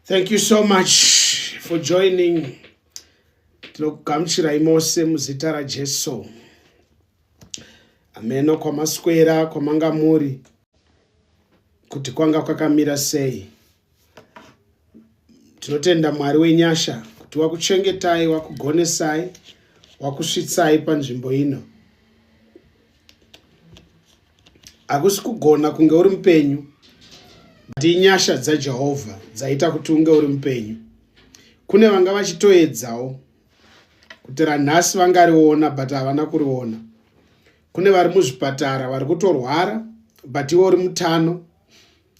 Thank you so much for joining. Tinokugamuchirai mose muzita raJesu. Ameno kwamaswera kwamanga muri kuti kwanga kwakamira sei. tinotenda mwari wenyasha kuti wakuchengetai wakugonesai wakusvitsai panzvimbo ino hakusi kugona kunge uri mupenyu but inyasha dzajehovha dzaita kuti unge uri mupenyu kune vanga vachitoedzawo kuti ranhasi vangariona but havana kuriona kune vari muzvipatara vari kutorwara but iwe uri mutano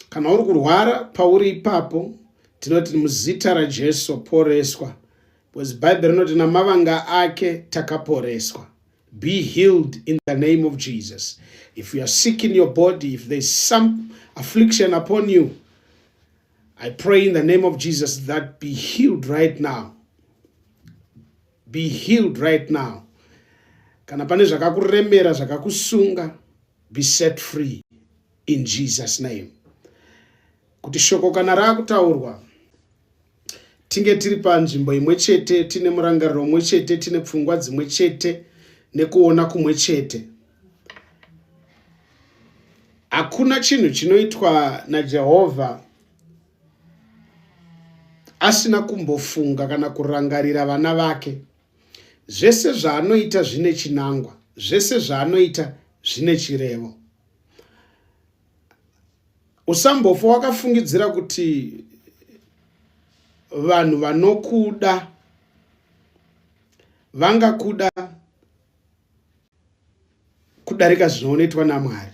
kana uri kurwara pauri ipapo tinoti muzita rajesu poreswa because bhaibheri rinoti namavanga ake takaporeswa be healed in the name of jesus if you are sick in your body if there is some affliction upon you i pray in the name of jesus that be healed right now be healed right now kana pane zvakakuremera zvakakusunga be set free in jesus name kuti shoko kana raakutaurwa tinge tiri panzvimbo imwe chete tine murangariro umwe chete tine pfungwa dzimwe chete nekuona kumwe chete hakuna chinhu chinoitwa najehovha asina kumbofunga kana kurangarira vana vake Zvese zvaanoita zvine chinangwa, zvese zvaanoita zvine chirevo. Usambofa wakafungidzira kuti vanhu vanokuda vangakuda kudarika zvinoonetwa naMwari.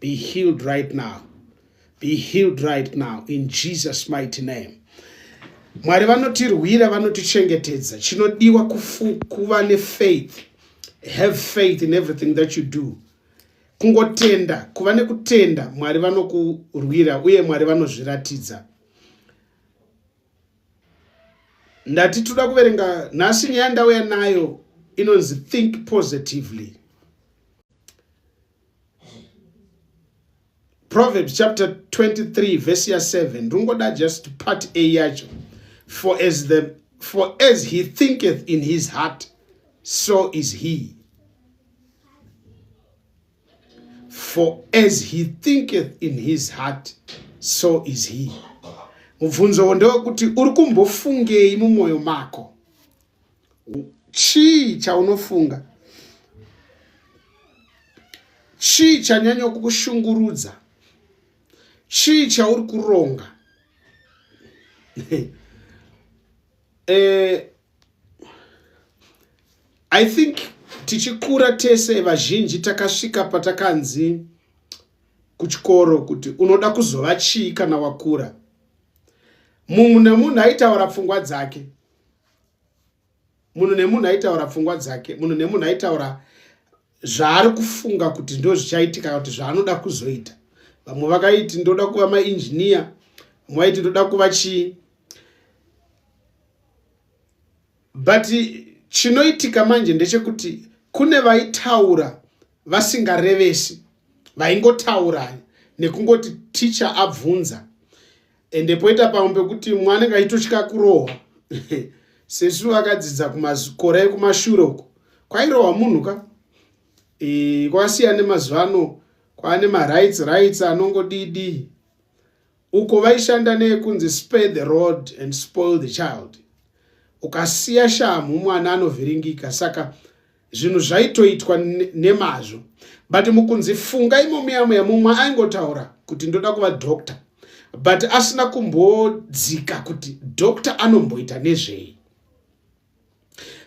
be healed right now be healed right now in jesus mighty name mwari vanotirwira vanotichengetedza chinodiwa kuva nefaith have faith in everything that you do kungotenda kuva nekutenda mwari vanokurwira uye mwari vanozviratidza ndati toda kuverenga nhasi nyaya ndauya nayo inonzi think positively proverbs chapter 23 verse ya 7 ndingoda just part a yacho for as the for as he thinketh in his heart so is he for as he thinketh in his heart so is he mubvunzo ndewekuti uri kumbofungei mumwoyo mako chii chaunofunga chii chanyanya kukushungurudza chii chauri kuronga eh, i think tichikura tese vazhinji takasvika patakanzi kuchikoro kuti unoda kuzova chii kana wakura munhu nemunhu aitaura pfungwa dzake munhu nemunhu aitaura pfungwa dzake munhu nemunhu aitaura zvaari kufunga kuti ndo zvichaitika kuti zvaanoda kuzoita vamwe vakaiti ndoda kuva mainjiniya vamwe vaiti ndoda kuva chii but chinoitika manje ndechekuti kune vaitaura vasingarevesi vaingotaura nekungoti ticha abvunza ende poita pamwe pekuti mumwe anenge aitotya kurohwa sesu vakadzidza kumakore ekumashure uko kwairohwa munhu ka e, kwasiya nemazuva ano kwaane marights rights anongodidi uko vaishanda neekunzi spare the road and spoil the child ukasiya shamhu mwana anovhiringika saka zvinhu zvaitoitwa nemazvo but mukunzi funga imo muyamweya mumwe aingotaura kuti ndoda kuva doctor but asina kumbodzika kuti doctor anomboita nezvei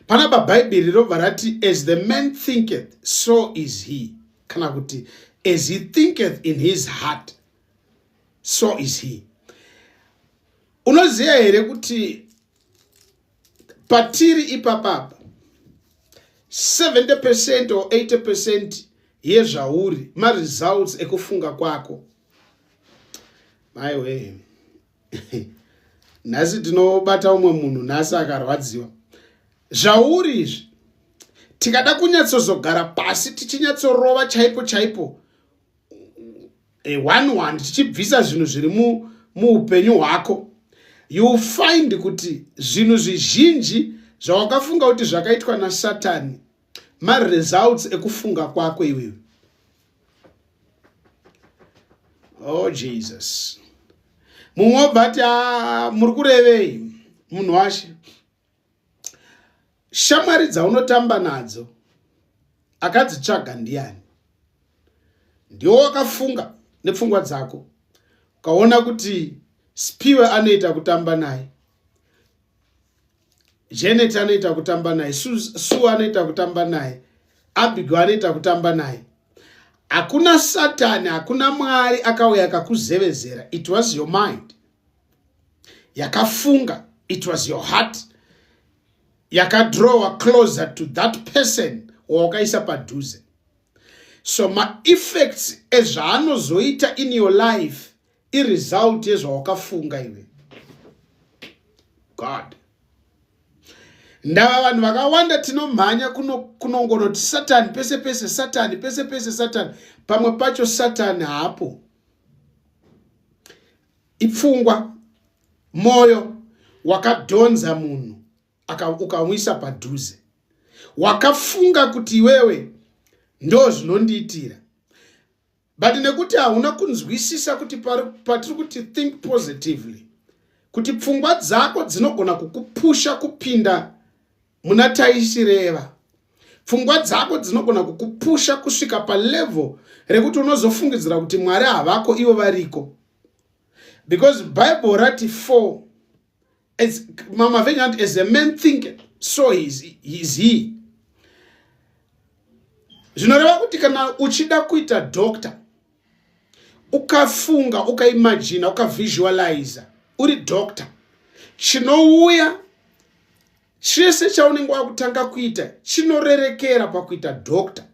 panapa bhaibheri robva rati as the man thinketh so is he kana kuti as he thinketh in his heart so is he unoziva here kuti patiri ipapapa 70 percent or 80 percent yezvauri maresults ekufunga kwako maiwee nhasi tinobata umwe munhu nhasi akarwadziwa zvauri izvi tikada kunyatsozogara pasi tichinyatsorova chaipo chaipo a one one tichibvisa zvinhu zviri muupenyu hwako you find kuti zvinhu zvizhinji zvawakafunga kuti zvakaitwa nasatani maresults ekufunga kwako iwewe oh jesus mumwe obva ati ah, muri kurevei munhu washe shamwari dzaunotamba nadzo akadzitsvaga ndiani ndiwo wakafunga nepfungwa dzako ukaona kuti spiwe anoita kutamba naye janet anoita kutamba naye sue anoita kutamba naye abigo anoita kutamba naye hakuna satani hakuna mwari akauya akakuzevezera it was your mind yakafunga it was your heart yakadrawa closer to that person wawakaisa padhuze so maeffects ezvaanozoita in your life iresult yezvawakafunga iwe god ndava vanhu vakawanda tinomhanya kunongonoti satani pese pese satani pese pese satani pamwe pacho satani haapo ipfungwa moyo wakadhonza munhu ukamuisa padhuze wakafunga kuti iwewe ndo zvinondiitira but nekuti hauna kunzwisisa kuti patiri kuti think positively kuti pfungwa dzako dzinogona kukupusha kupinda muna taishireva pfungwa dzako dzinogona kukupusha kusvika palevel rekuti unozofungidzira kuti mwari havako ivo variko because bible rati for as mama venyu anti as a man think so is, is he zvinoreva kuti kana uchida kuita doctor ukafunga ukaimajina ukavisualiza uri doctor chinouya chese chaunenge wakutanga kuita chinorerekera pakuita doctor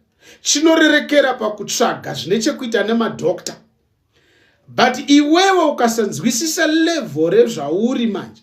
chinorerekera pakutsvaga zvine chekuita nemadoctor but iwewe ukasanzwisisa level rezvauri manje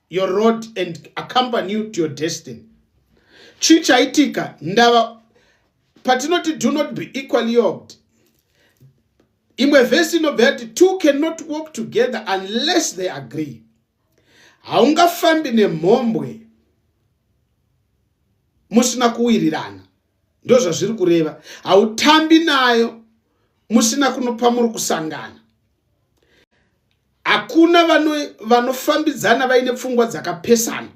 your road and accompany you to your destiny chii chaitika ndava patinoti do not be equally yoked imwe vhesi inobva yati two cannot walk together unless they agree haungafambi nemhombwe musina kuwirirana ndozvazviri kureva hautambi nayo musina kunopa muri kusangana hakuna vanofambidzana vaine pfungwa dzakapesana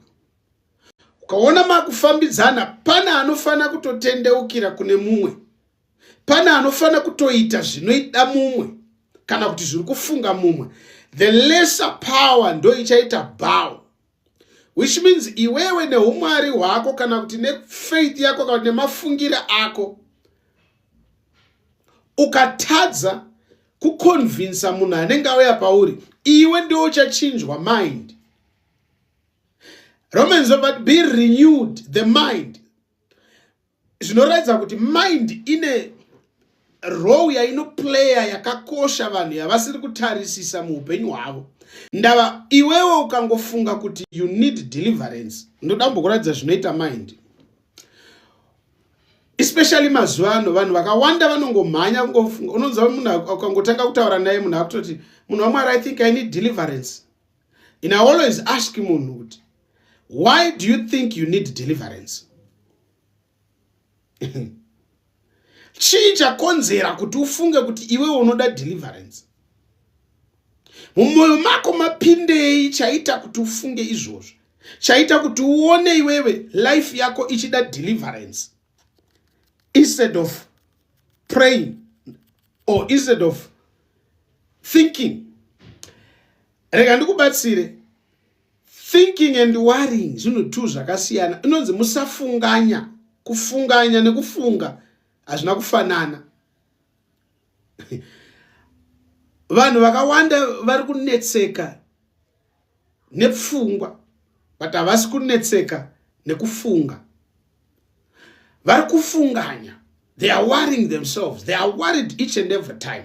ukaona makufambidzana pane anofanira kutotendeukira kune mumwe pane anofanira kutoita zvinoida mumwe kana kuti zviri kufunga mumwe the lesser power ndoichaita bow which means iwewe neumwari hwako kana kuti nefaith yako kana kuti nemafungire ako ukatadza kuconvinsa munhu anenge auya pauri iwe ndiwo uchachinjwa mind romans but be renewed the mind zvinoratidza kuti mind ine role yainoplaya yakakosha vanhu yavasiri kutarisisa muupenyu hwavo ndava iwewo ukangofunga kuti you need deliverance ndoda mbokuratidza zvinoita mind especially mazuva ano vanhu vakawanda vanongomhanya kungofunga unonzwa munhu ukangotanga kutaura naye munhu akutoti munhu wamwari i think i need deliverance in always ask munhu kuti why do you think you need deliverance chii chakonzera kuti ufunge kuti iwewe unoda deliverance mumwoyo mako mapindei chaita kuti ufunge izvozvo chaita kuti uone iwewe life yako ichida deliverance instead of praying or instead of thinking rega ndikubatsire thinking and worrying zvinhu two zvakasiyana inonzi musafunganya kufunganya nekufunga hazvina kufanana vanhu vakawanda vari kunetseka nepfungwa but havasi kunetseka nekufunga vari kufunganya they are worrying themselves they are worried each and every time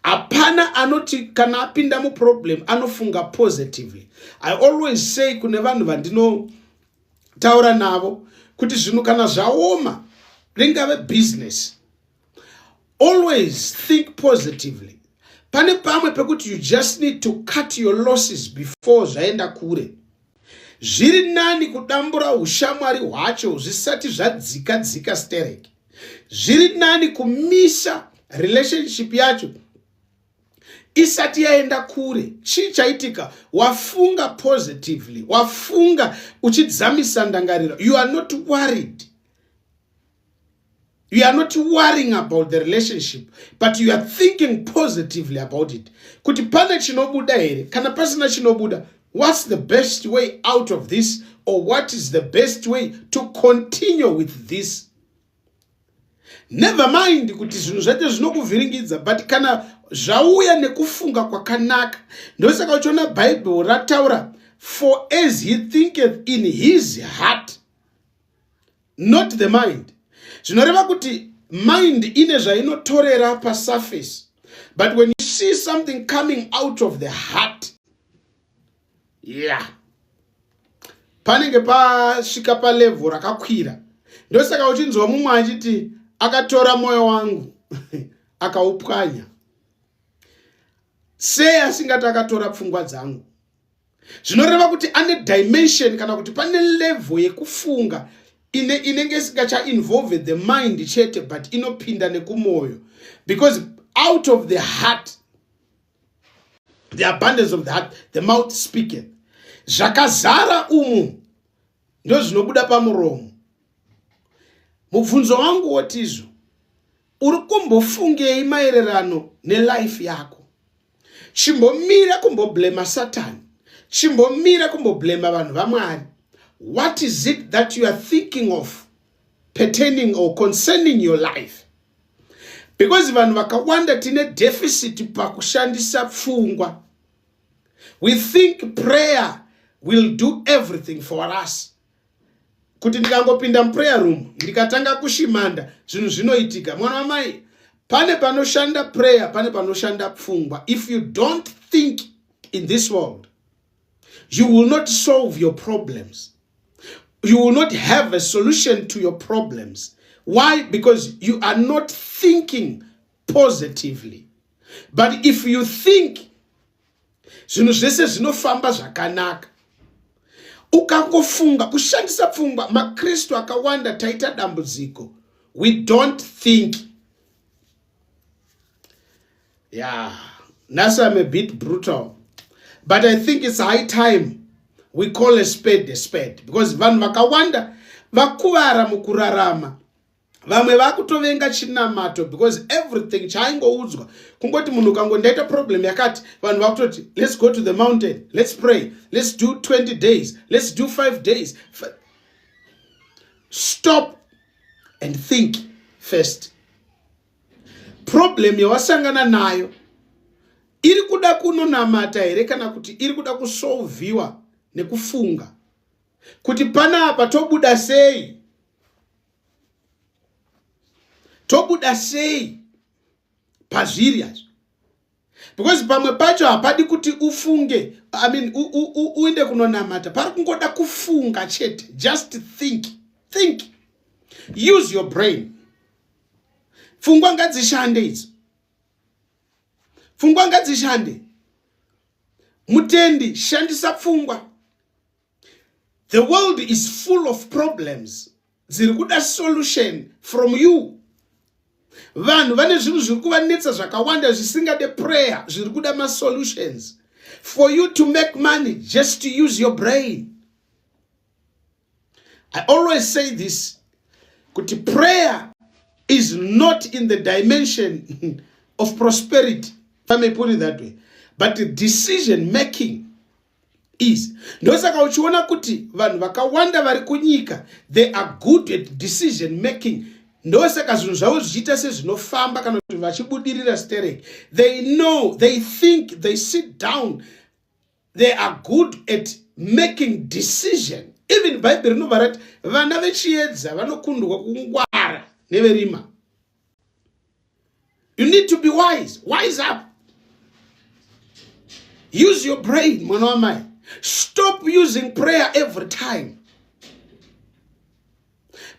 hapana anoti kana apinda muproblem anofunga positively i always say kune vanhu vandinotaura navo kuti zvinhu kana zvaoma ringave business always think positively pane pamwe pekuti you just need to cut your losses before zvaenda kure zviri nani kudambura ushamwari hwacho zvisati zvadzika dzika stereki zviri nani kumisa relationship yacho isati yaenda kure chii chaitika wafunga positively wafunga uchidzamisa ndangariro you are not worried you are not worrying about the relationship but you are thinking positively about it kuti pane chinobuda here kana pasina chinobuda what's the best way out of this or what is the best way to continue with this never mind kuti zvinhu zvacho zvinokuvhiringidza but kana zvauya nekufunga kwakanaka ndosaka uchiona bhaibheri rataura for as he thinketh in his heart not the mind zvinoreva kuti mind ine zvainotorera pasurface but when you see something coming out of the heart yeah panenge pasvika palevho rakakwira ndosaka uchinzwa mumwe achiti akatora mwoyo wangu akaupwanya sei asingati akatora pfungwa dzangu zvinoreva kuti ane dimension kana kuti pane level yekufunga ine inenge isingachainvolve the mind chete but inopinda nekumwoyo because out of the heart the abundance of the heart the mouth speaketh zvakazara umu ndozvinobuda pamuromo mubvunzo wangu wotizvo uri kumbofungei maererano nelife yako chimbomira kumboblema satani chimbomira kumboblema vanhu vamwari what is it that you are thinking of pertaining or concerning your life because vanhu vakawanda tine deficit pakushandisa pfungwa we think prayer will do everything for us kuti ndikangopinda muprayer room ndikatanga kushimanda zvinhu zvinoitika mwana wamai pane panoshanda prayer pane panoshanda pfungwa if you don't think in this world you will not solve your problems you will not have a solution to your problems why because you are not thinking positively but if you think zvinhu zvese zvinofamba zvakanaka ukangofunga kushandisa pfungwa makristu akawanda taita dambudziko we don't think yeah nhasi am a bit brutal but i think it's high time we call a spade a spade because vanhu vakawanda vakuvara mukurarama vamwe vakutovenga chinamato because everything chaaingoudzwa kungoti munhu ukango ndaita problem yakati vanhu vakutoti let's go to the mountain let's pray let's do 20 days let's do 5 days stop and think first problem yawasangana nayo iri kuda kunonamata here kana kuti iri kuda kusolviwa nekufunga kuti panapa tobuda sei tobuda sei pazviri hazvo because pamwe pacho hapadi kuti ufunge i mean uende kunonamata pari kungoda kufunga chete just think think use your brain pfungwa ngadzishande idzo pfungwa ngadzishande mutendi shandisa pfungwa the world is full of problems dziri kuda solution from you vanhu vane zvinhu zviri kuvanetsa zvakawanda zvisingade prayer zviri kuda masolutions for you to make money just to use your brain i always say this kuti prayer is not in the dimension of prosperity if i may put it that way but decision making is ndosaka uchiona kuti vanhu vakawanda vari kunyika they are good at decision making ndosaka zvinhu zvavo zvichiita sezvinofamba kana kuti vachibudirira sterek they know they think they sit down they are good at making decision even bhaibheri rinobva rati vana vechiedza vanokundwa kungwara neverima you need to be wise wise up use your brain mwana wamai stop using prayer every time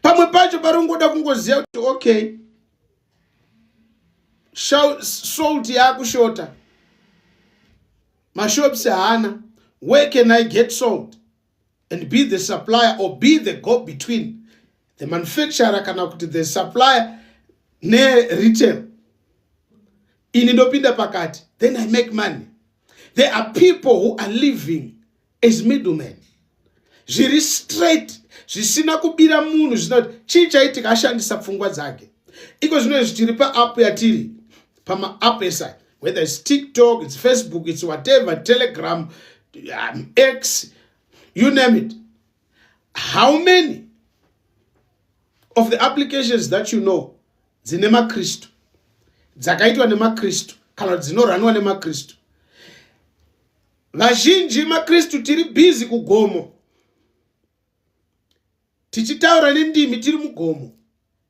pamwe pacho pari kungoda kungoziva kuti okay salt yakushota mashops haana where can i get salt and be the supplier or be the go between the manufacturer kana kuti the supplier neretail ini ndopinda pakati then i make money there are people who are living as middlemen zviri straight zvisina kubira munhu zvina kuti chii chaitika ashandisa pfungwa dzake iko zvino izvi tiri paapp yatiri pamaapp esai whether its tiktok its facebook its whatever telegram um, x you name it how many of the applications that you know dzine makristu dzakaitwa nemakristu kana kuti dzinoranwa nemakristu vazhinji makristu tiri bhizi kugomo tichitaura nendimi tiri mugomo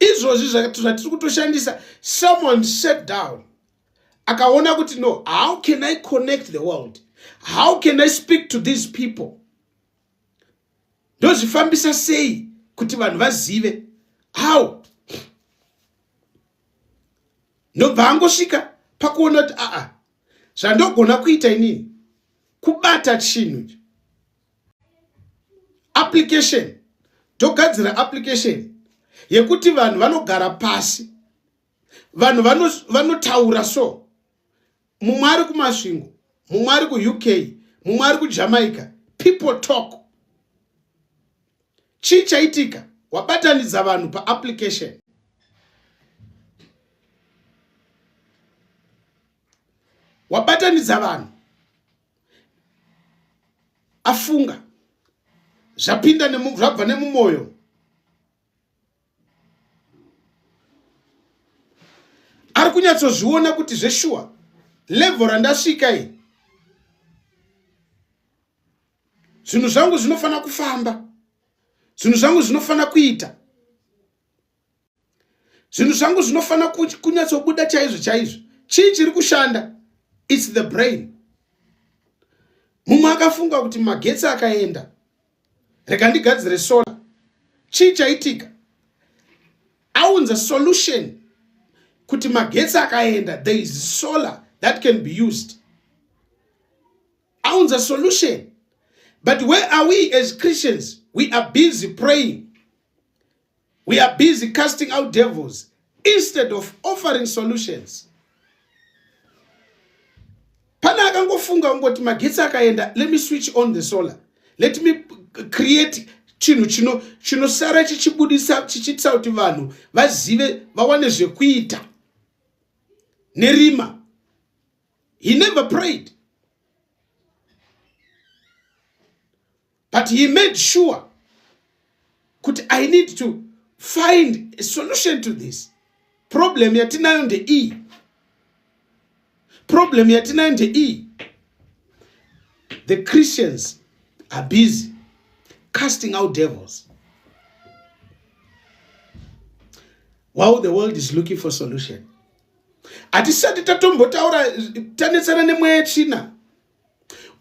izvozvi zvatiri kutoshandisa someone sat down akaona kuti no how can i connect the world how can i speak to these people ndozvifambisa sei kuti vanhu vazive how ndobva angosvika pakuona kuti aa zvandogona kuita inini kubata chinhu application togadzira application yekuti vanhu vanogara pasi vanhu vanotaura vano so mumwe ari kumasvingo mumwe ari kuuk mumwe ari kujamaica people talk chii chaitika wabatanidza vanhu paapplication wabatanidza vanhu afunga zvapinda zvabva nemumwoyo ari kunyatsozviona kuti zveshuwa levho randasvika i zvinhu zvangu zvinofanira kufamba zvinhu zvangu zvinofanira kuita zvinhu zvangu zvinofanira kunyatsobuda chaizvo chaizvo chii chiri kushanda its the brain mumwe akafunga kuti magetsi akaenda rega ndigadzire solar chii chaitika aunza solution kuti magetsi akaenda there is solar that can be used aunza solution but where are we as christians we are busy praying We are busy casting out devils instead of offering solutions. Pana akangofunga ungoti magetsi akaenda, let me switch on the solar. Let me create chinhu chino chinosara chichibudisa chichiitisa kuti vanhu vazive vawane zvekuita nerima. He never prayed. but he made sure kuti i need to find a solution to this problem yatinayo ndeiyi problem yatinayo ndeiyi the christians are busy casting out devils while the world is looking for solution hatisati tatombotaura tanetsana nemweya tsvina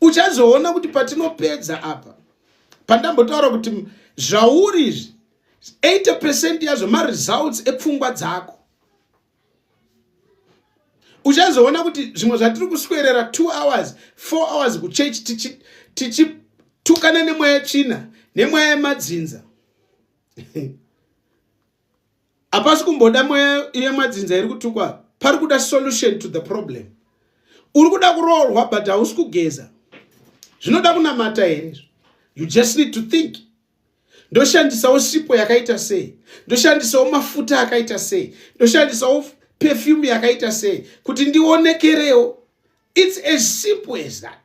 uchazoona kuti patinopedza apa pandambotaura kuti zvauri izvi 80 percent yazvo maresults epfungwa dzako uchazoona kuti zvimwe zvatiri kuswerera two hours four hours kuchechi tichitukana nemweya tsvina nemweya yemadzinza hapasi kumboda mweya yemadzinza iri kutukwa pari kuda solution to the problem uri kuda kuroorwa but hausi kugeza zvinoda kunamata here izvo you just need to think ndoshandisawo sipo yakaita sei ndoshandisawo mafuta akaita sei ndoshandisawo perfume yakaita sei kuti ndionekerewo its as simple as that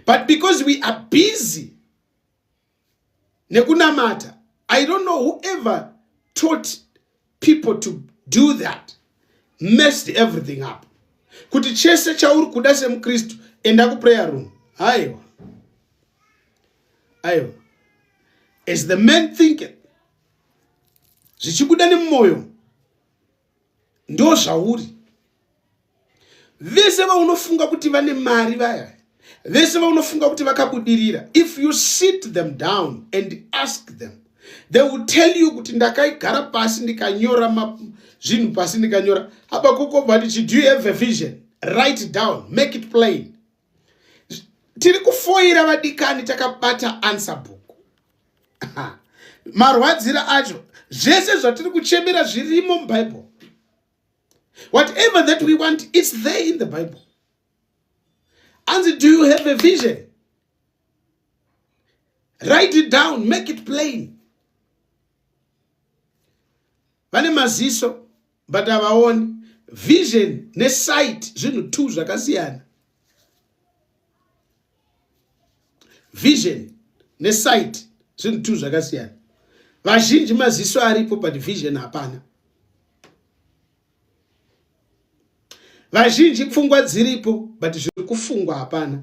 but because we are busy nekunamata i don't know whoever taught people to do that messed everything up kuti chese chauri kuda semukristu enda kuprayer room aiwa aiwa as the man thinking zvichibuda nemumwoyo ndozvauri vese vaunofunga kuti vane mari vaya vese vaunofunga kuti vakabudirira if you sit them down and ask them they will tell you kuti ndakaigara pasi ndikanyora zvinhu pasi ndikanyora habakuko but do you have a vision write down make it plain tiri kufoira vadikani takabata answer book marwadzira acho zvese zvatiri kuchemera zvirimo mubible whatever that we want its there in the bible anzi do you have a vision write it down make it plain vane maziso but havaoni vision nesight zvinhu two zvakasiyana vision nesight zvinhu two zvakasiyana vazhinji maziso aripo but vision hapana vazhinji pfungwa dziripo but zviri kufungwa hapana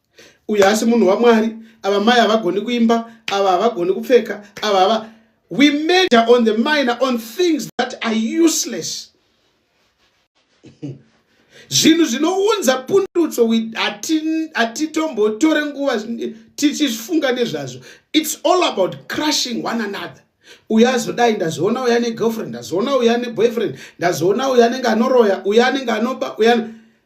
uyu asi munhu wamwari ava mai havagoni kuimba ava havagoni kupfeka ava hava we major on the minor on things that are useless zvinhu zvinounza pundutso hatitombotore nguva tichifunga nezvazvo its all about crushing one another uyo azodai ndazoona uyo ane girlfriend ndazoona uyo ane boyfriend ndazoona uyo anenge anoroya uyo anenge anoba uyo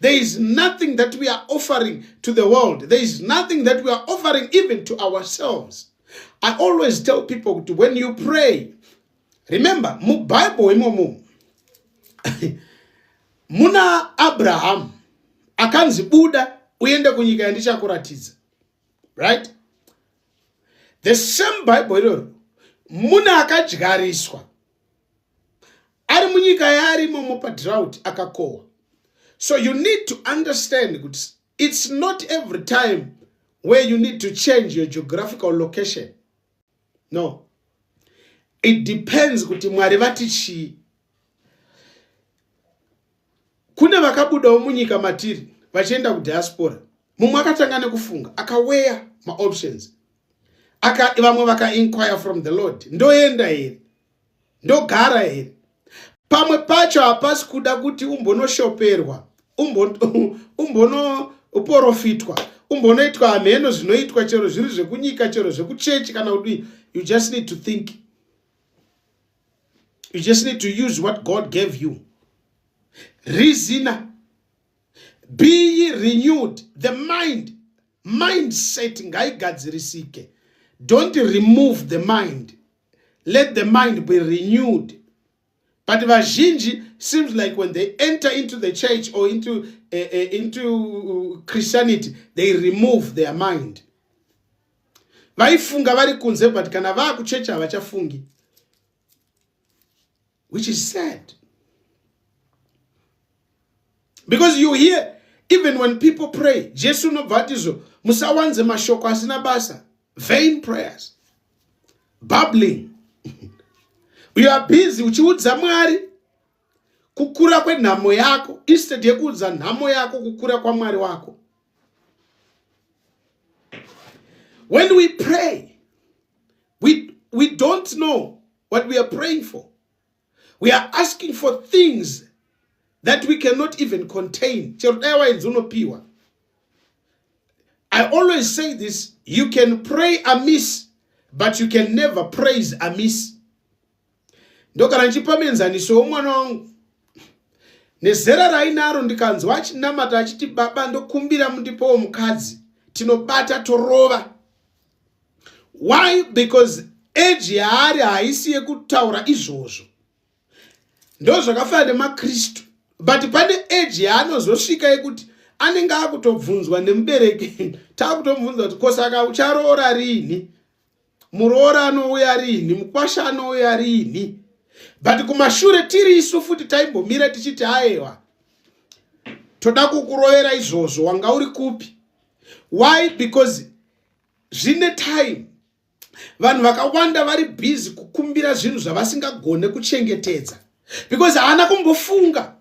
There is nothing that we are offering to the world. There is nothing that we are offering even to ourselves. I always tell people when you pray, remember, mu Bible imomo, muna Abraham, akanzi buda uende kunyika yandichakuratidza. Right? The same Bible iroro, muna akadyariswa. ari munyika yaari imomo padrought akakohwa so you need to understand kuti it's not every time where you need to change your geographical location no it depends kuti mwari vati chii kune vakabudawo munyika matiri vachienda kudiaspora mumwe akatanga nekufunga akaweya maoptions aka vamwe vakainquire from the lord ndoenda here ndogara here pamwe pacho hapasi kuda kuti umbonoshoperwa umbonoporofitwa umbonoitwa hamheno zvinoitwa chero zviri zvekunyika chero zvekuchechi kana kudii you just need to think you just need to use what god gave you reasoner be ye renewed the mind mindset ngaigadzirisike don't remove the mind let the mind be renewed but vazhinji seems like when they enter into the church or into, uh, uh, into christianity they remove their mind vaifunga vari kunze but kana vaakuchechi havachafungi which is sad because you hear even when people pray jesu unobva atizvo musawanze mashoko asina basa vain prayers bubbling you are busy uchiudza mwari kukura kwenhamo yako instead yekuudza nhamo yako kukura kwamwari wako when we pray we, we don't know what we are praying for. We are asking for things that we cannot even contain. I always say this, you can pray amiss, but you can never praise amiss. ndokana ndichipa mienzaniso womwana wangu nezera rainaro ndikanzwa achinamata achiti baba ndokumbira mundipowo mukadzi tinobata torova why because age yaari haisi yekutaura izvozvo ndozvakafanana nemakristu but pane age yaanozosvika yekuti anenge akutobvunzwa nemubereki takutomubvunza kuti kosaka ucharoora rini muroora anouya rini mukwasha anouya rini but kumashure tiri isu futi taimbomira tichiti aewa toda kukurovera izvozvo wanga uri kupi why because zvine time vanhu vakawanda vari busy kukumbira zvinhu zvavasingagone kuchengetedza because haana kumbofunga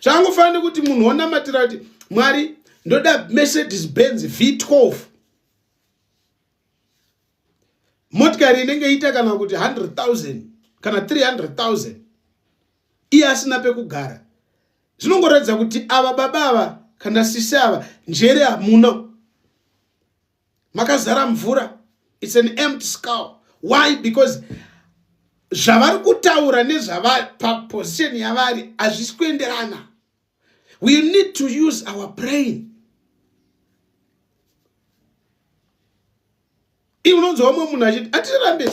zvangofanira nekuti munhu wonamatira kuti mwari ndoda mercedes benz v12 motikari inenge ita kana kuti 100 000 kana 300 000 iye asina pekugara zvinongoratidza kuti ava baba ava kana sisi ava njere hamuna makazara mvura its an empty scow why because zvavari kutaura nezvavari paposition yavari hazvisi kuenderana we need to use our brain i unonzwa umwe munhu achiti atirambe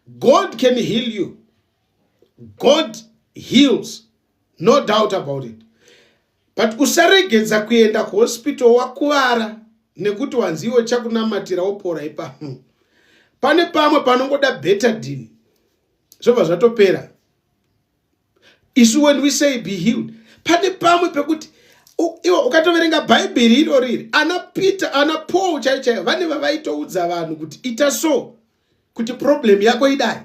god can heal you god heals no doubt about it but usaregedza kuenda kuhospital wakuvara nekuti wanzi iwe chakunamatira wopora ipapo pane pamwe panongoda betadin zvobva zvatopera isu when we say be healed pane pamwe pekuti iwe ukatoverenga bhaibheri iro riri ana peter ana paul chai chaiyo vane vavaitoudza vanhu kuti ita so kuti problem yako idai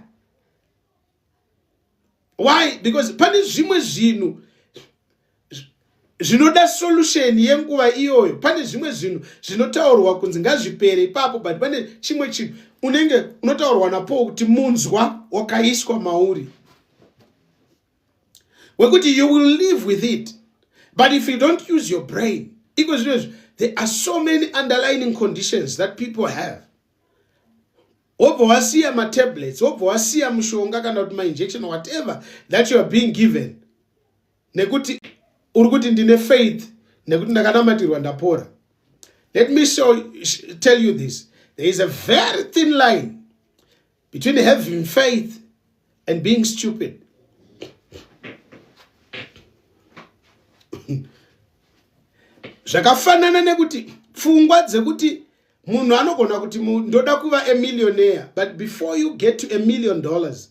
why because pane zvimwe zvinhu zvinoda solution yenguva iyoyo pane zvimwe zvinhu zvinotaurwa kunzi ngazvipere ipapo but pane chimwe chinhu unenge unotaurwa napo kuti munzwa wakaiswa mauri wekuti you will live with it but if you don't use your brain iko zvino izvi there are so many underlining conditions that people have wobva wasiya matablets wobva wasiya mushonga kana kuti mainjection whatever that you are being given nekuti uri kuti ndine faith nekuti ndakanamatirwa ndapora let me show, tell you this there is a very thin line between having faith and being stupid zvakafanana nekuti pfungwa dzekuti munhu anogona kuti ndoda kuva amillionaire but before you get to a million dollars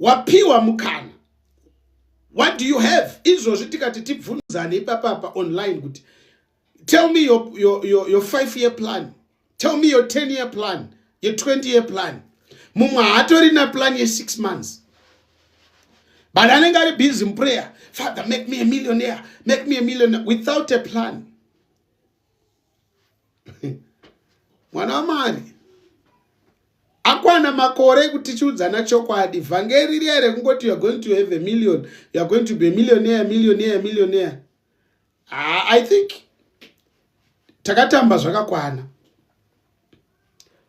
wapiwa mukana what do you have izvozvi tikati tibvunzane ipapapa online kuti tell me your, your, your, your five year plan tell me your 10 year plan your 20 year plan mumwe haatorina plan ye six months but anenge ari busy muprayer father make me a millionaire make me a millionaire without a plan mwana wamwari akwana makore ekuti tichiudzana chokwadi vhangeri riya rekungoti youare going to have a million youare going to be a millionaire millionaire millionaire ah, i think takatamba zvakakwana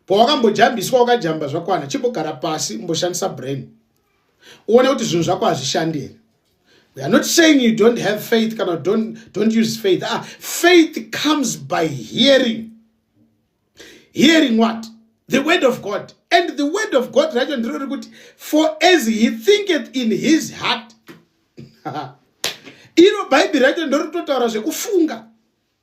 pawakambojambiswa wakajamba zvakwana chimbogara pasi umboshandisa brain uone kuti zvinhu zvako hazvishandi here we are not saying you don't have faith kana don't, don't use faith ah, faith comes by hearing hearing what the word of god and the word of god racho ndiro rekuti for as he thinketh in his heart iro bhaibheri racho ndoritotaura zvekufunga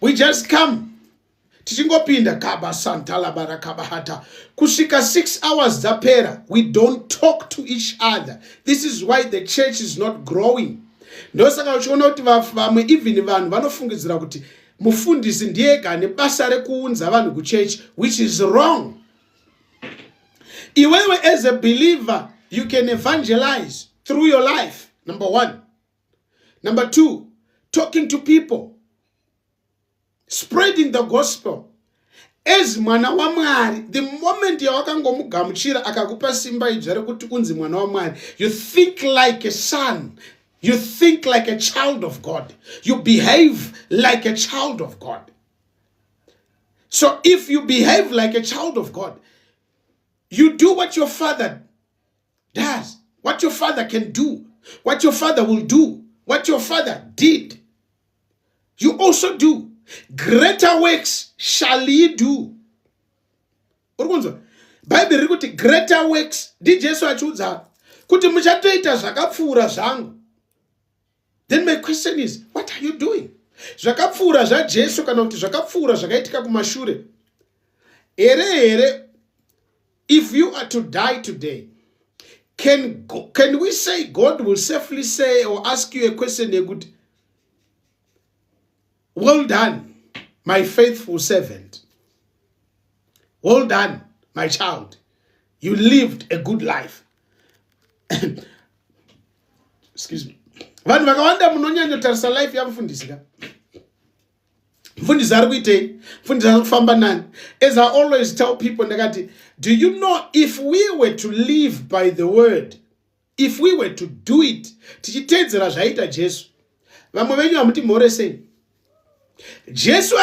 we just come tichingopinda kaba santalabara kabahata kusvika six hours dzapera we don't talk to each other this is why the church is not growing ndosaka uchiona kuti vamwe even vanhu vanofungidzira kuti mufundisi ndiye ega ane basa rekuunza vanhu kuchechi which is wrong iwewe as a believer you can evangelize through your life number one Number two, talking to people, spreading the gospel. As mwana wa Mwari, the moment yawakangomugamuchira akakupa simba idzva rekuti unzi mwana wa Mwari, you think like a son, you think like a child of God, you behave like a child of God. So if you behave like a child of God, you do what your father does what your father can do what your father will do what your father did you also do greater works shall ye do uri kunzwa bhaibheri riri kuti greater works ndijesu achiudza kuti muchatoita zvakapfuura zvangu then my question is what are you doing zvakapfuura zvajesu kana kuti zvakapfuura zvakaitika kumashure here here if you are to die today can, can we say god will safely say or ask you a question yekuti well done my faithful servant well done my child you lived a good life excuse me vanhu vakawanda munonyanyotarisa life yamufundisi ka mfundisi ari kuitei mfundisi ari kufamba nani as i always tell people ndakati do you know if we were to live by the word if we were to do it tichiteedzera zvaiita jesu vamwe venyu hamuti mhore sei jesu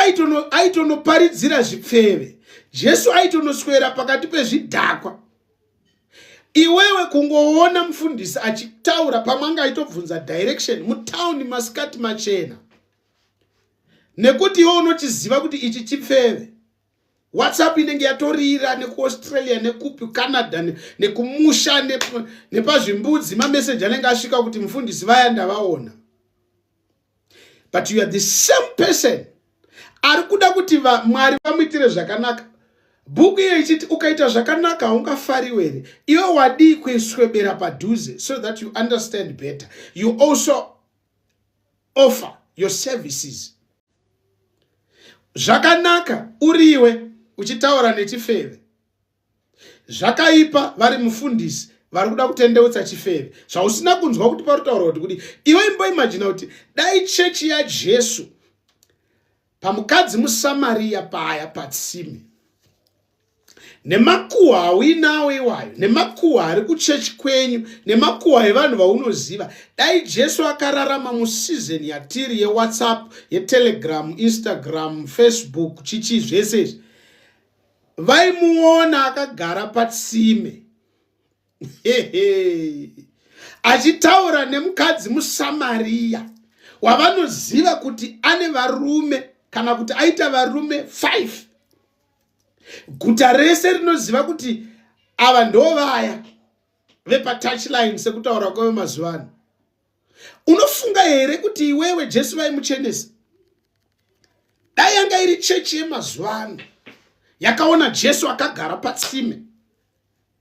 aitonoparidzira zvipfeve jesu aitonoswera pakati pezvidhakwa iwewe kungoona mufundisi achitaura pamwe anga aitobvunza direction mutawuni masikati machena nekuti iwe unochiziva kuti ichi chipfeve whatsapp inenge yatorira nekuaustralia nekupi canada nekumusha nepazvimbudzi mameseji anenge asvika kuti mufundisi vaya ndavaona but you are the same person ari kuda kuti mwari vamuitire zvakanaka bhuku iyo ichiti ukaita zvakanaka haungafariwe here iwe wadii kuiswebera padhuze so that you understand better you also offer your services zvakanaka uriwe uchitaura nechifeve zvakaipa vari mufundisi vari kuda kutendeutsa chifeve zvausina kunzwa kuti pari kutaura kuti kudi iwe imboimajina kuti dai chechi yajesu pamukadzi musamariya paya patsime nemakuhwa auinawo iwayo nemakuhwa ari kuchechi kwenyu nemakuhwa evanhu vaunoziva dai jesu akararama musizoni yatiri yewhatsapp yetelegram instagram facebook chichii zvese izvi vaimuona akagara patsime achitaura nemukadzi musamariya wavanoziva kuti ane varume kana kuti aita varume 5 guta rese rinoziva kuti ava ndovaya vepatouchline sekutaura kwave mazuva ano unofunga here kuti iwewe jesu vaimuchenesa dai yanga iri chechi yemazuva ano yakaona jesu akagara patsime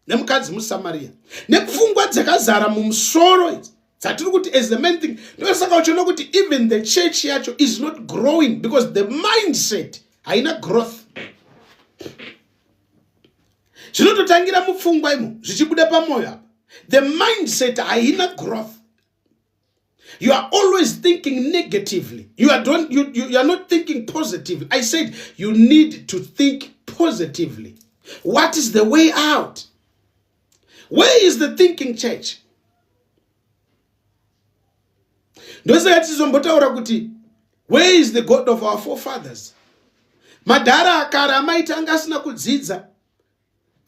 nemukadzi musamariya nepfungwa dzakazara mumusoro idzi dzatiri kuti as the main thing ndosaka uchiona kuti even the church yacho is not growing because the mindset haina growth zvinototangira mupfungwa imo zvichibuda pamwoyo apa the mindset haina growth You are always thinking negatively. You are, don't, you, you, you are not thinking positively. I said you need to think positively. What is the way out? Where is the thinking church? ndosaka tizombotaura kuti where is the god of our forefathers madhara akare amaiti anga asina kudzidza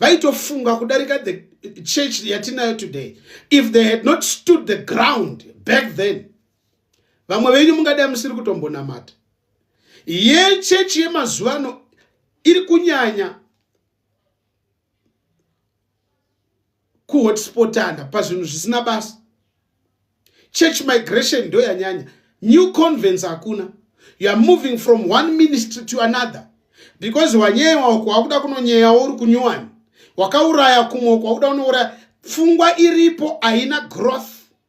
vaitofunga kudarika the church yatinayo today if they had not stood the ground back then vamwe venyu mungadai musiri kutombonamata yechechi yemazuva ano iri kunyanya kuhotspotana pazvinhu zvisina basa church migration ndo yanyanya new convence hakuna youare moving from one ministry to another because wanyeyewa uko wakuda kunonyeyawo uri kunyuwani wakauraya kumwe uko wakuda unouraya pfungwa iripo haina growth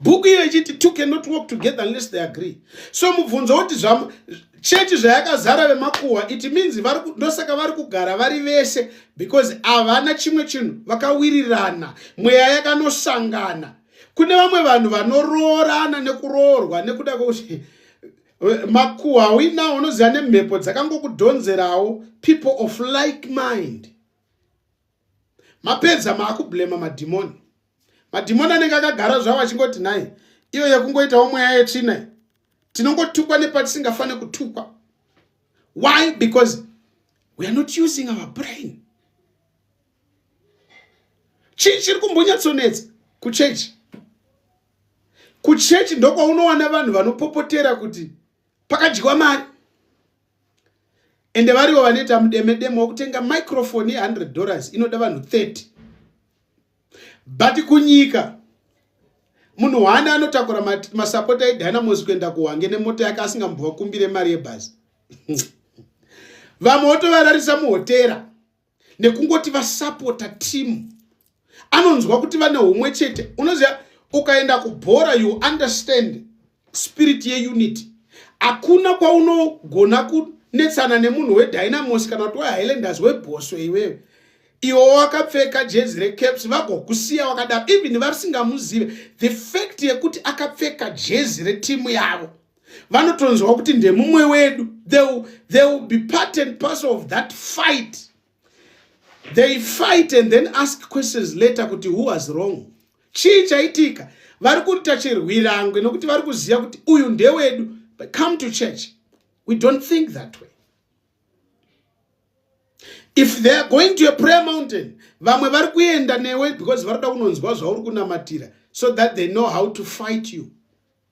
bhuku iyo ichiti two cannot work together unless they agree so mubvunzo woti chechi zvayakazara vemakuhwa it means ndosaka vari kugara vari vese because havana chimwe chinhu vakawirirana mweya yakanosangana kune vamwe vanhu vanoroorana nekuroorwa nekuda kwekuti eh, makuhwa hauinawo unoziva nemhepo dzakangokudhonzerawo people of like mind mapedza maakublema madhimoni madhimoni anenge akagara zvavo achingoti nhai iyo yekungoitawo mweya yetsvina tinongotukwa nepatisingafanire kutukwa why because we are not using our brain chii chiri kumbonyatsonetsa kuchechi kuchechi ndokwaunowana vanhu vanopopotera kuti pakadyiwa mari ende varivo vanoita mudemedeme wekutenga microfoni ye 100 dollars inoda vanhu 30 but kunyika munhu hwani anotakura masapota ma edynamos kuenda kuhwange nemota yake asingambova kumbire mari yebhazi vamwe wotovararisa muhotera nekungoti vasapota team anonzwa kuti vane humwe chete unoziva ukaenda kubhora you understand spirit yeunity hakuna kwaunogona kunetsana nemunhu wedynamos kana kuti wehighlanders webhoswe iwewe iwo wakapfeka jezi recaps vagokusiya wakadaro even varisingamuzive the fact yekuti akapfeka jezi retimu yavo vanotonzwa kuti ndemumwe wedu they will, they will be part and parcel of that fight they fight and then ask questions later kuti who was wrong chii chaitika vari kuita chirwirangwe nokuti vari kuziva kuti uyu ndewedu but come to church we don't think that way if they are going to a prayer mountain vamwe vari kuenda newe because vari kuda kunonzwa zvauri kunamatira so that they know how to fight you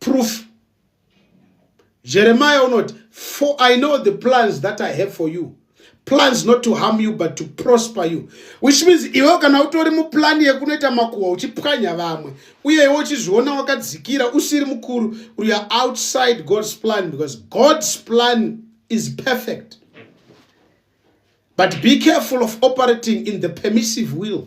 proof jeremiah unoti for i know the plans that i have for you plans not to harm you but to prosper you which means iwe kana utori muplani yekunoita makuhwa uchipwanya vamwe uye iwe uchizviona wakadzikira usiri mukuru uri outside god's plan because god's plan is perfect but be careful of operating in the permissive will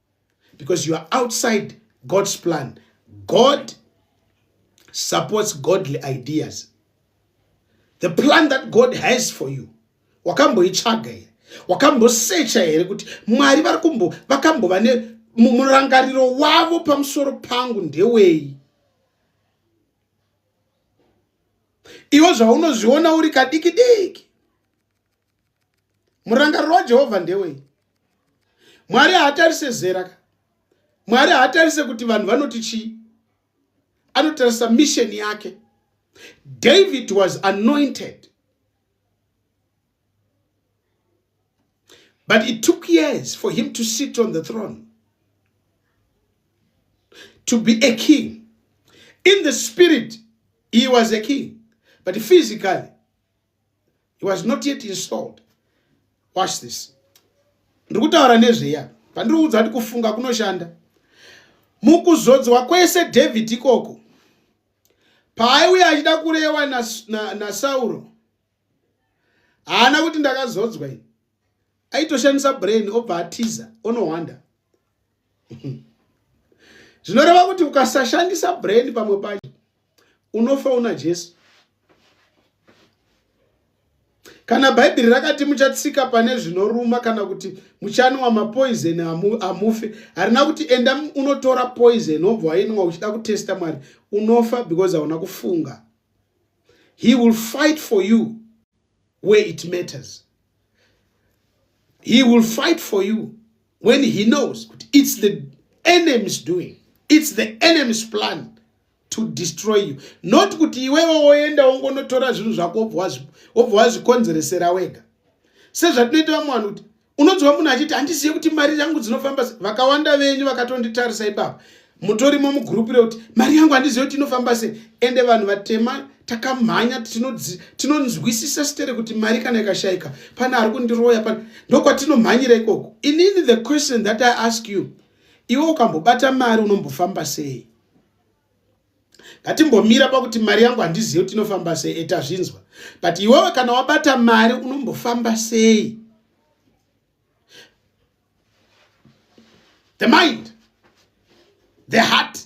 because you are outside god's plan god supports godly ideas the plan that god has for you wakamboitsvaga here wakambosecha here kuti mwari vari kumbo vakambova ne murangariro wavo pamusoro pangu ndewei iwo zvaunozviona uri kadiki diki murangariro wajehovha ndewei mwari haatarise zera ka mwari haatarise kuti vanhu vanoti chii anotarisa misheni yake david was anointed but it took years for him to sit on the throne to be a king in the spirit he was a king but physically he was not yet installed watch this ndiri kutaura nezveya pandiri kuudza kuti kufunga kunoshanda mukuzodzwa kwese david ikoko paaiuya achida kurewa nasauro na, na haana kuti ndakazodzwa ini aitoshandisa brain obva atiza onohwanda zvinoreva kuti ukasashandisa brain pamwe pacho unofa una jesu kana bhaibheri rakati muchatsika pane zvinoruma kana kuti muchanwa mapoizeni hamufe harina kuti enda unotora poizeni wobva wainwa uchida kutesta mwari unofa because hauna kufunga he will fight for you where it matters he will fight for you when he knows kuti it's the enemy's doing it's the enemy's plan to destroy you not kuti iwewe woenda wongonotora zvinhu zvako wobva wazvikonzeresera wega sezvatinoita vamwe vanhu kuti unonzwa munhu achiti handizive kuti mari yangu dzinofamba se vakawanda venyu vakatonditarisa ipapa mutorimo mugurupu rekuti mari yangu handizive kuti inofamba se ende vanhu vatema takamhanya tinonzwisisa sitere kuti mari kana ikashaika pane ari kundiroya pane ndokwatinomhanyira ikoko inini the question that i ask you iwe ukambobata mari unombofamba sei ngatimbomira pakuti mari yangu handizive kuti inofamba sei eta zvinzwa but iwewe kana wabata mari unombofamba sei the mind the heart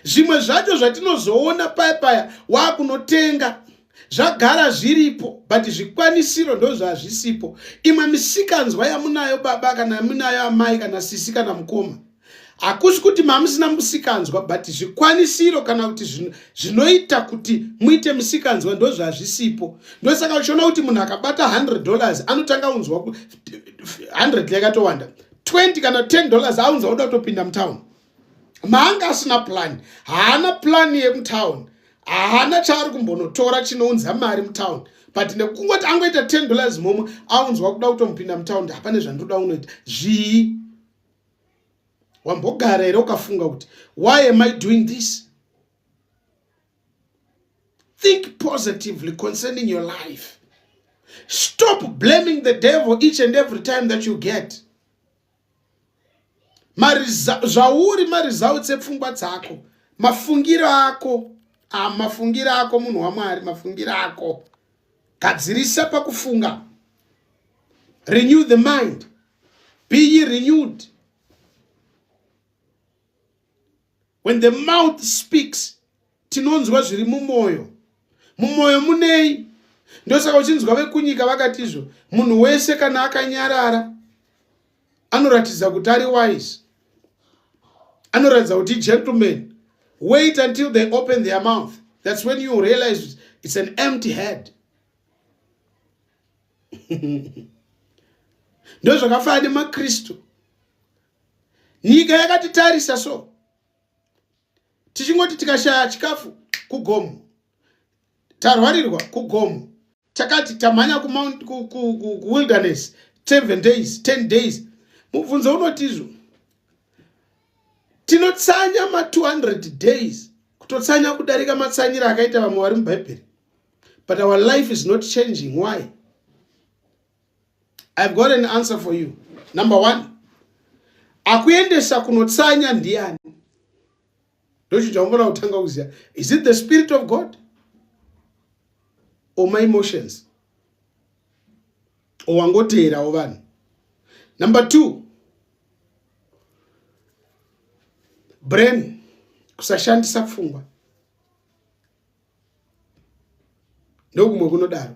zvimwe zvacho zvatinozoona paya paya wakunotenga zvagara zviripo but zvikwanisiro ndozvazvisipo imwe misikanzwa yamunayo baba kana yamunayo amai kana sisi kana mukoma hakusi kuti mamusina musikanzwa but zvikwanisiro kana kuti zvinoita kuti muite musikanzwa ndozvazvisipo ndosaka uchiona kuti munhu akabata 100 dollars anotanga unzwa 100 yakatowanda 20 kana 10 dollars aunza oda kutopinda mutown maanga asina plani haana plani yemutown haana chaari kumbonotora chinounza mari mutown but nekungoti angoita 10 dollars momwe aunzwa kuda kutomupinda mutown ndi hapane zvandoda unoita zvii wambogara here ukafunga kuti why am i doing this think positively concerning your life stop blaming the devil each and every time that you get zvauri maresults epfungwa dzako mafungiro ako ah, mafungiro ako munhu wamwari mafungiro ako gadzirisa pakufunga renew the mind be ye renewed when the mouth speaks tinonzwa zviri mumwoyo mumwoyo munei ndosaka uchinzwa vekunyika vakati izvo munhu wese kana akanyarara anoratidza kuti ari wise anoratidza kuti gentleman wait until they open their mouth that's when you realize it's an empty head ndozvakafanana nemakristu nyika yakatitarisa so tichingoti tikashaya chikafu kugomo tarwarirwa kugomo takati tamhanya kuwilderness 7 days 10 days mubvunzo unotizvo tinotsanya ma 200 days kutotsanya kudarika matsanyiro akaita vamwe vari mubhaibheri but our life is not changing why i've got an answer for you number one akuendesa kunotsanya ndiani ndochichaomona kutanga kuziva is it the spirit of god or my emotions or wangoteerawo vanhu number two brain kusashandisa pfungwa ndokumwe kunodaro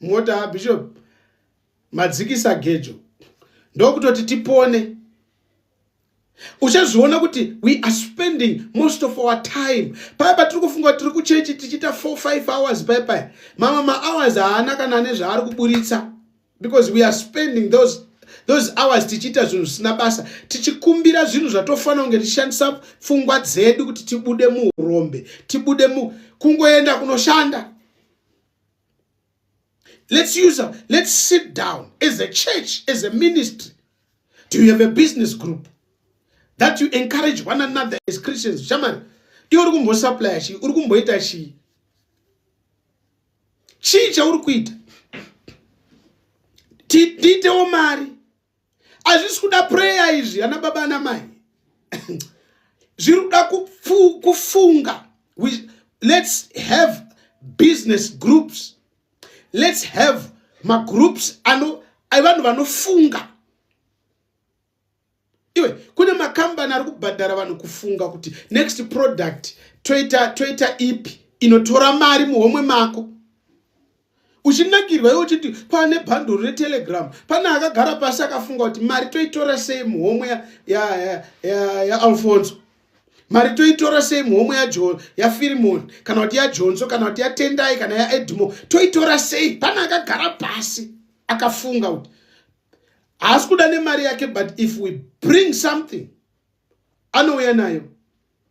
mota bishop madzikisa gejo ndokutoti tipone uchazviona kuti we are spending most of our time paya patiri kufunga tiri kuchechi tichiita 45 hours paya paya mamwe mahours haana kana ane zvaari kuburitsa because we are spending those those hours tichiita zvinhu zvisina basa tichikumbira zvinhu zvatofanira kunge tichishandisa pfungwa dzedu kuti tibude muurombe tibude mu kungoenda kunoshanda Let's use a, let's sit down as a church, as a ministry. Do you have a business group that you encourage one another as Christians? Shaman, iwe uri kumbosuplya chii uri kumboita chii chii chauri kuita tiitewo mari hazvisi kuda prayer izvi ana baba ana mai zviri kuda kufunga let's have business groups let's have magroups ano vanhu vanofunga iwe kune makambani ari kubhadhara vanhu kufunga kuti next product toita toita ipi inotora mari muhomwe mako uchinakirwa iwe uchiti pane bhanduru retelegram pane akagara pasi akafunga kuti mari toitora sei muhomwe yaalfonso ya, ya, ya mari toitora sei muhomwe yafirimoni ya kana kuti yajonso kana kuti yatendai kana yaedmo toitora sei pane akagara pasi akafunga kuti haasi kuda nemari yake but if we bring something anouya nayo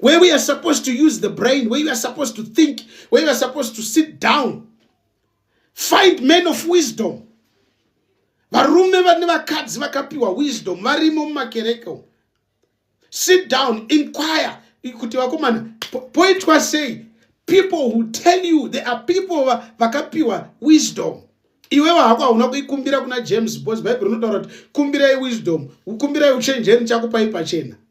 where we are supposed to use the brain where you are supposed to think where you are supposed to sit down find men of wisdom varume vane vakadzi vakapiwa wisdom varimo mumakereke umu sit down inquire kuti vakomana poitwa sei people who tell you there are people vakapiwa wisdom iwewe hako hauna kuikumbira kuna james bos bhaibheri unotaura kuti kumbirai wisdom kumbirai uchenjeri chakupai pachena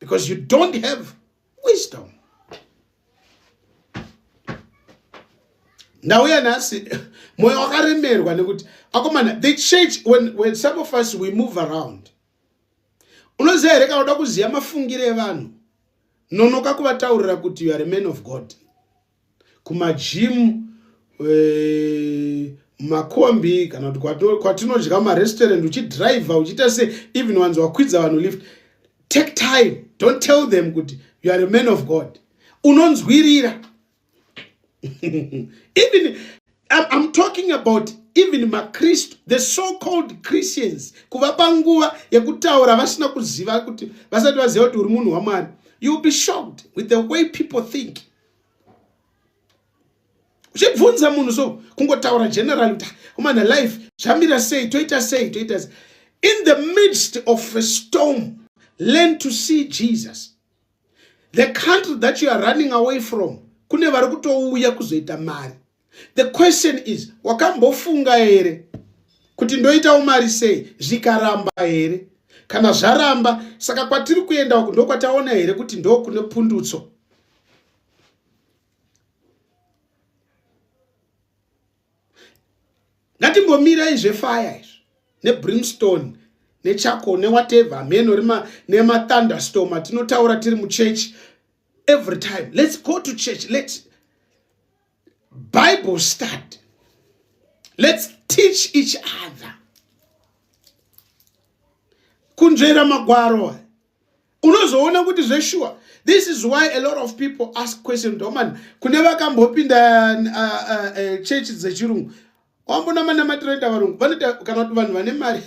because you don't have wisdom ndauya nhasi mwoyo wakaremerwa nekuti akomana the church when, when some of us we move around unoziva here kana uda kuziva mafungiro evanhu nonoka kuvataurira kuti you are a man of god kumajimu eh, makombi kana kuti kwatinodya marestaurant uchidriver uchiita se even wanzi wakwidza vanhu lift take time don't tell them kuti you are a man of god unonzwirira even I'm talking about even makristu the so called christians kuvapa nguva yekutaura vasina kuziva kuti vasati vaziva kuti uri munhu wamwari youll be shocked with the way people think uchibvunza munhu so kungotaura general kuti kumana life zvamira sei toita sei toita sei in the midst of a storm learn to see jesus the country that you are running away from kune vari kutouya kuzoita mari the question is wakambofunga here kuti ndoitawo mari sei zvikaramba here kana zvaramba saka kwatiri kuenda uku ndokwataona here kuti ndokune pundutso ngatimbomirai zvefaya izvi nebrimstone nechako newateve hameno rima nemathunderstorm atinotaura tiri muchechi every time let's go to church let bible study let's teach each other kunzvera magwaro unozoona kuti zveshuwa this is why a lot of people ask question domani kune vakambopinda uh, uh, uh, chechi dzechirungu wambonamanamatira ita varungu vanoita kana kuti vanhu vane mari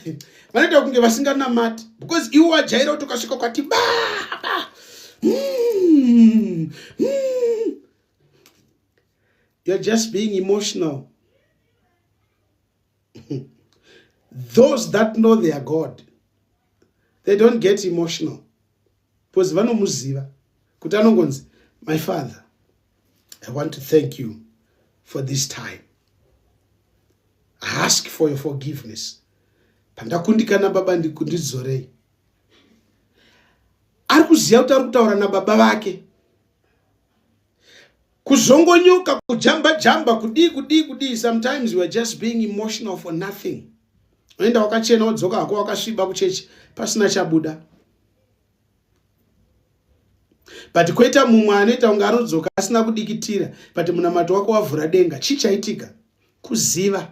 vanoita kunge vasinganamati because iwo wajaira kuti ukasvika kwati baba hmm, hmm. you're just being emotional those that know their god they don't get emotional because vanomuziva kuti anongonzi my father i want to thank you for this time I ask for your forgiveness pandakundikana baba ndikundidzorei ari kuziva kuti ari kutaura nababa vake kuzongonyoka kujamba jamba kudii kudii kudii sometimes you are just being emotional for nothing unoenda wakachena wodzoka hako wakasviba kuchechi pasina chabuda but koita mumwe anoita kunge anodzoka asina kudikitira but munamato wako wavhura denga chii chaitika kuziva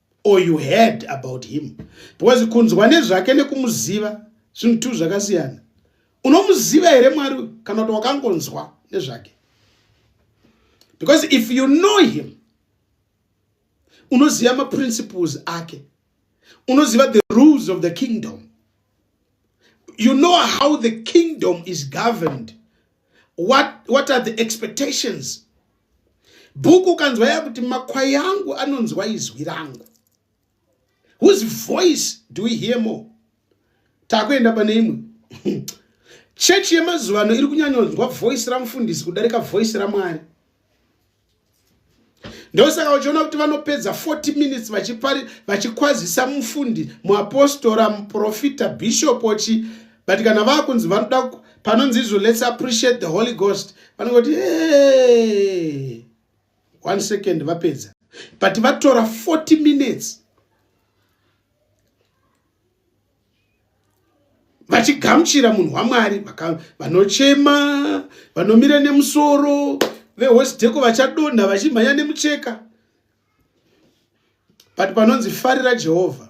or you heard about him because kunzwa nezvake nekumuziva zvinhu two zvakasiyana unomuziva here mwari uyu kana kuti wakangonzwa nezvake because if you know him unoziva maprinciples ake unoziva the rules of the kingdom you know how the kingdom is governed what, what are the expectations bhuku ukanzwa ya kuti makwai angu anonzwa izwi rangu whose voice do we hear more takuenda pane imwe chechi yemazuva ano iri kunyanyonzwa voice ramufundisi kudarika voice ramwari ndosaka uchiona kuti vanopedza 40 minutes vachikwazisa mufundi muapostora muprofita bishop chi but kana vakunzi vanoda panonzi izvo let's appreciate the holy ghost vanenge kuti hey! one second vapedza but vatora 40 minutes vachigamuchira munhu wamwari vanochema vanomira nemusoro vehosdeko vachadonha vachimhanya nemucheka but panonzi farira jehovha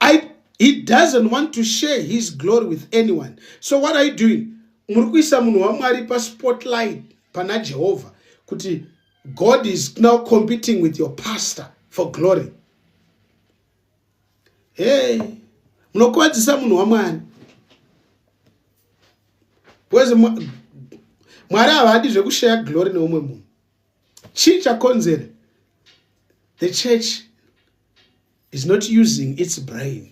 I, he doesn't want to share his glory with anyone so what are you doing muri kuisa munhu wamwari paspotlight pana jehovha kuti god is now competing with your pastor for glory hey munokuvadzisa munhu wamwari bcause mwari havadi zvekushaya glory neumwe munhu chii chakonzera the church is not using its brain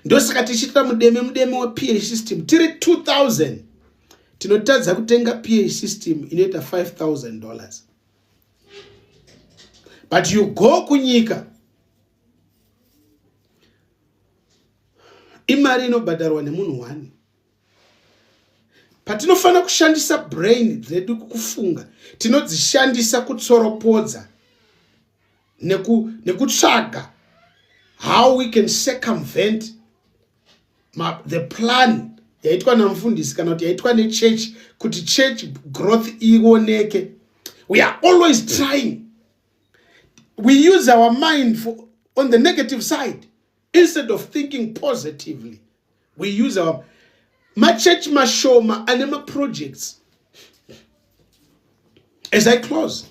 ndosaka tichiitira mudeme mudeme weph system tiri 2000 tinotadza kutenga ph system inoita 5000 dollars but you go kunyika imari inobhadharwa nemunhu one patinofanira kushandisa brain dzedu kufunga tinodzishandisa kutsoropodza neku, nekutsvaga how we can circumvent ma, the plan yaitwa namufundisi kana kuti yaitwa nechurch kuti church growth ioneke we are always trying we use our mind for, on the negative side instead of thinking positively we use our machurch mashoma ane maprojects as i close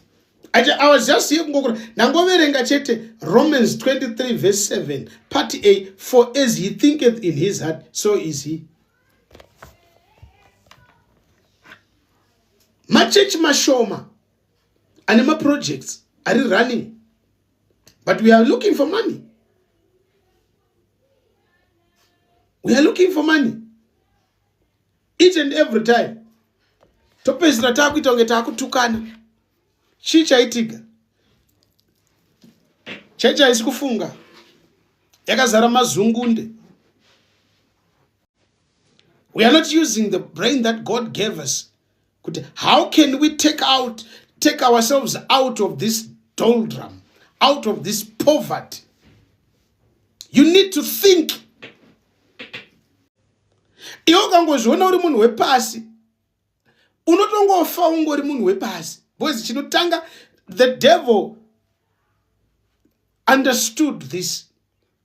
I, I was just here kungokura ndangoverenga chete romans 23 verse 7 part a for as he thinketh in his heart so is he machechi mashoma ane maprojects ari running but we are looking for money we are looking for money each and every time topedzisira taakuita kunge taakutukana chii chaitika chechi haisi kufunga yakazara mazungunde we are not using the brain that god gave us kuti how can we take out take ourselves out of this doldrum out of this poverty you need to think iwe ukangozviona uri munhu wepasi unotongofa ungori munhu wepasi because chinotanga the devil understood this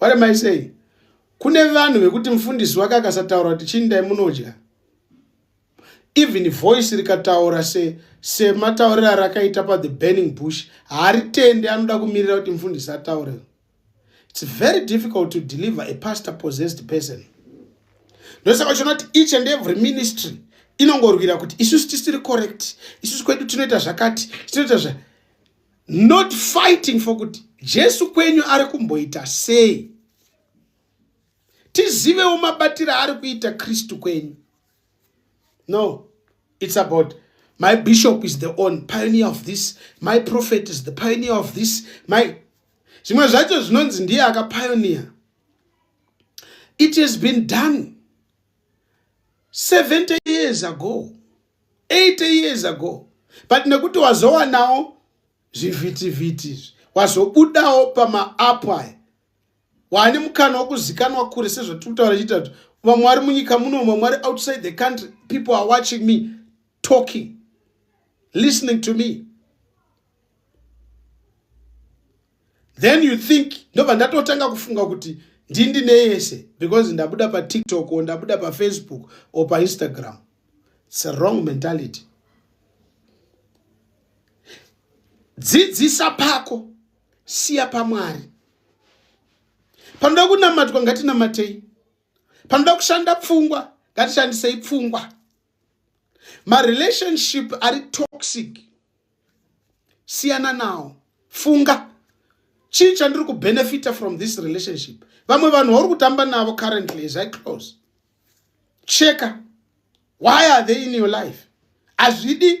what am i saying kune vanhu vekuti mufundisi wake akasataura kuti chini dai munodya even voice rikataura se sematauriro arakaita pathe burning bush haaritendi anoda kumirira kuti mufundisi ataure It's very difficult to deliver a pastor possessed person. Ndosaka uchiona kuti each and every ministry inongorwira kuti isusu tisiri correct, isusu kwedu tinoita zvakati, tinoita zva not fighting for kuti Jesu kwenyu ari kumboita sei. Tizivewo mabatiro ari kuita Kristu kwenyu. no it's about my bishop is the on pioneer of this my prophet is the pioneer of this my zvimwe zvacho zvinonzi ndiye akapioneer it has been done 70 years ago 80 years ago but nekuti wazowanawo zvivhitivhiti izvi wazobudawo pamaapu aya waane mukana wekuzikanwa kure sezvatiri kutaura chiita kuti vamwe vari munyika muno vamwe mwari outside the country people are watching me talking listening to me then you think ndobva ndatotanga kufunga kuti ndindine yese because ndabuda patiktok o ndabuda pafacebook or painstagram its a wrong mentality dzidzisa pako siya pamwari panoda kunamatwa ngatinamatei panoda kushanda pfungwa ngatishandisei pfungwa marelationship ari toxic siyana nawo funga chii chandiri kubenefita from this relationship vamwe vanhu vauri kutamba navo currently as i close cheka why are they in your life hazvidi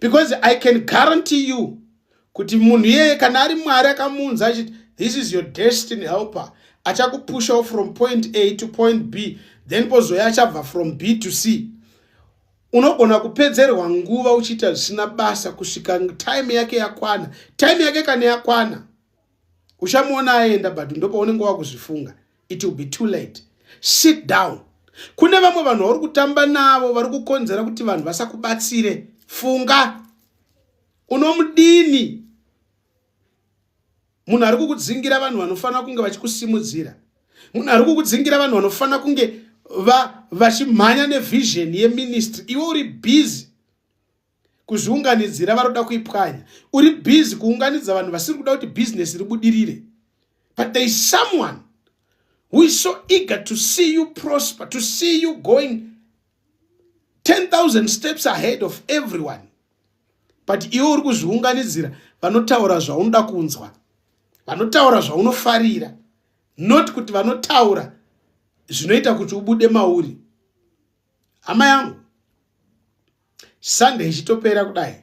because i can guarantee you kuti munhu iyeye kana ari mwari akamuunza achiti this is your destiny helper achakupushawo from point a to point b then pozoya achabva from b to c unogona kupedzerwa nguva uchiita zvisina basa kusvika time yake yakwana time yake kana yakwana uchamuona aenda but ndopaunenge wakuzvifunga it will be too late sit down kune vamwe vanhu vauri kutamba navo vari kukonzera kuti vanhu vasakubatsire funga unomudini munhu ari kukudzingira vanhu vanofanira kunge vachikusimudzira munhu ari kukudzingira vanhu vanofanira kunge vachimhanya nevhizheni yeministry iwe uri busy kuzviunganidzira varoda kuipwanya uri busy kuunganidza vanhu vasiri kuda kuti business ribudirire but there is someone who is so eager to see you prosper to see you going 10000 steps ahead of everyone but iwe uri kuzviunganidzira vanotaura zvaunoda kunzwa vanotaura zvaunofarira not kuti vanotaura zvinoita kuti ubude mauri hama yangu sunday ichitopera kudai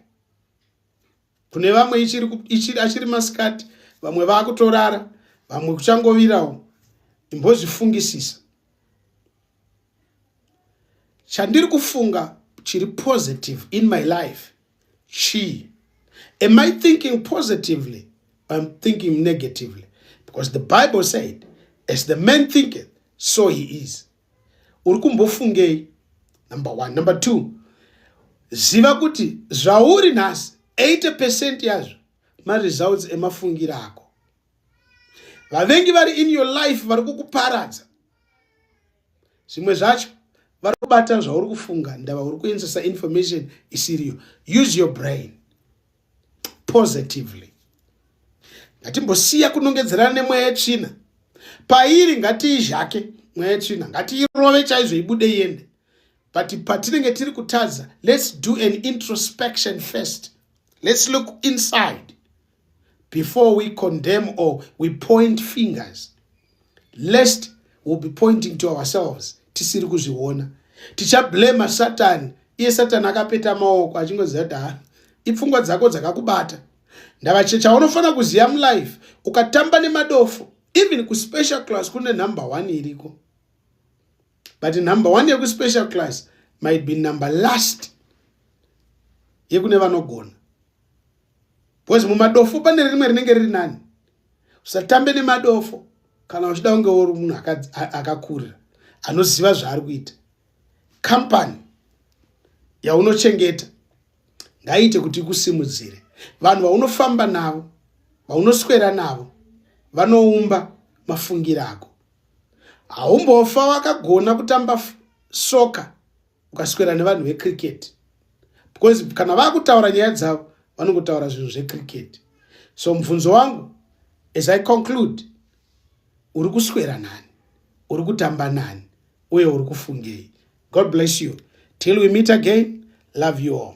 kune vamwe achiri masikati vamwe vakutorara vamwe kuchangovirawo imbozvifungisisa chandiri kufunga chiri positive in my life chii am i thinking positively im thinking negatively because the bible said as the man thinketh so he is uri kumbofungei number one number two ziva kuti zvauri nhasi 80 percent yazvo maresults emafungiro ako vavengi vari in your life vari kukuparadza zvimwe zvacho vari kubata zvauri kufunga ndava uri kuenzesa information isiriyo use your brain positively ngatimbosiya kunongedzerana nemweya yetsvina pairi ngatiizhake mweya yetsvina ngatiirove chaizvo ibude iende but patinenge tiri kutadza let's do an introspection first let's look inside before we condemn or we point fingers lest will be pointing to ourselves tisiri kuzviona tichablema satani iye satani akapeta maoko achingoziva kuti ha ipfungwa dzako dzakakubata ndava chaunofanira kuziva mulife ukatamba nemadofo even kuspecial class kune number one iriko but number one yekuspecial class might be number last yekune vanogona because mumadofo pane rimwe rinenge riri nani usatambe nemadofo kana uchida kunge uri munhu akakurira anoziva zvaari kuita kampani yaunochengeta ngaiite kuti ikusimudzire vanhu vaunofamba navo vaunoswera navo vanoumba mafungiro ako haumbofa wakagona kutamba soka ukaswera nevanhu vecricket because kana vakutaura nyaya dzavo vanongotaura zvinhu zvecricket so mubvunzo wangu as i conclude uri kuswera nani uri kutamba nani uye uri kufungei god bless you till we meet again love you all